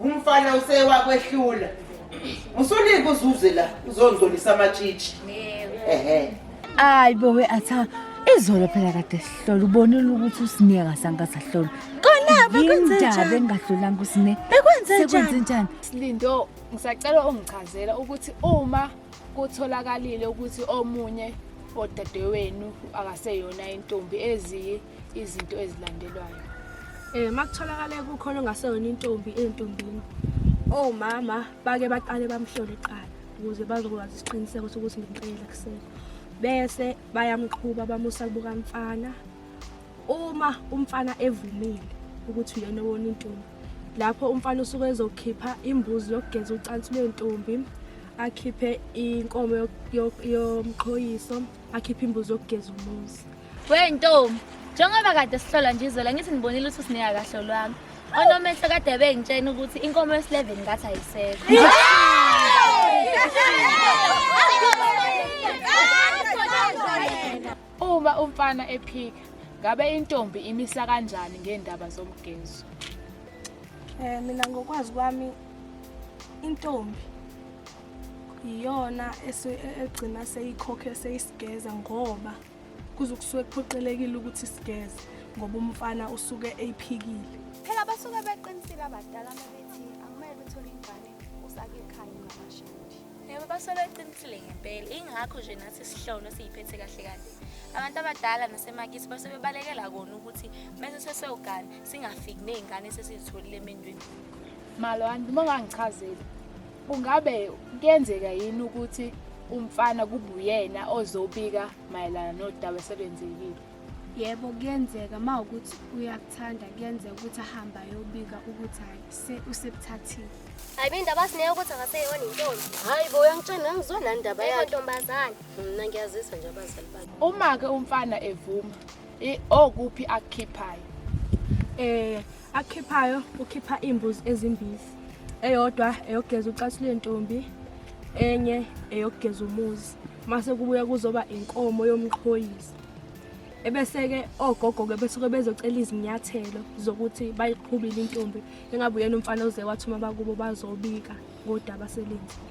umfana usewakwehlula usulinga uzuze la uzondlolisa amatshitshi ehe hayi bowe atha izolo phela kade sihlola ubonile ukuthi usine akasange asahlola konaphi kwenzindaba engahlolanga usine bekwenzenjani njani silindo ngisacela ungichazela ukuthi uma kutholakalile ukuthi omunye odadewenu akaseyona intombi eziyi izinto ezilandelwayo um eh, makutholakale kukhona ongaseyona intombi entombini omama bake baqale bamhlole kuqala ukuze bazokwazi isiqiniseko sokuthi ngempela kusele bese bayamqhuba bamusa kubuka mfana uma umfana evumile ukuthi uyena wona intombi lapho umfana usuke ezokhipha imbuzi yokugeza ucansi lwentombi akhiphe inkomo yomqhoyiso akhiphe imbuzi yokugeza umuzi We ntombi, njengoba kade sihlola nje izwela ngithi nibonile ukuthi usinika kahle lwami. Onomehlo kade bengitshena ukuthi inkomo yesileveni ngathi ayisekho. Uma umfana ephika, ngabe intombi imisa kanjani ngendaba zomgezo? Eh mina ngokwazi kwami intombi iyona ese- e- egcina seyikhokhe seyisigeza ngoba kuze kusuke kuphoqelekile ukuthi sigeze ngoba umfana usuke eyiphikile phela basuke beqinisile abadala mabethi akumele uthole ingane usake ekhaya ungamashindi yebo basuke beqinisile ngempela ingakho nje nathi sihlolo siyiphethe kahle kahle abantu abadala nasemakithi basuke bebalekela kona ukuthi mese sesewugane singafiki ney'ngane sesizitholile emendweni malwani uma ungangichazeli kungabe kuyenzeka yini ukuthi umfana kubuyena ozobika mayelana nodaba eselenzekile yebo kuyenzeka uma ukuthi uyakuthanda kuyenzeka ukuthi ahamba ayobika ukuthi hayi se usebuthathile hayi bendaba sineyo ukuthi akaseyona intombi hayi bo uyangitshena ngizona ndaba yakhe ntombazane mna ngiyazisa nje abazali bakhe uma ke umfana evuma okuphi akukhiphayo eh akukhiphayo ukhipha iimbuzi ezimbili eyodwa eyogeza ucathi lwentombi enye eyogeza umuzi mase kubuya kuzoba inkomo yomqhoyisi ebese-ke ogogo-ke besuke bezocela izinyathelo zokuthi bayiqhubile intombi engabe uyena umfana oze wathi uma bakubo bazobika ngodaba selenzi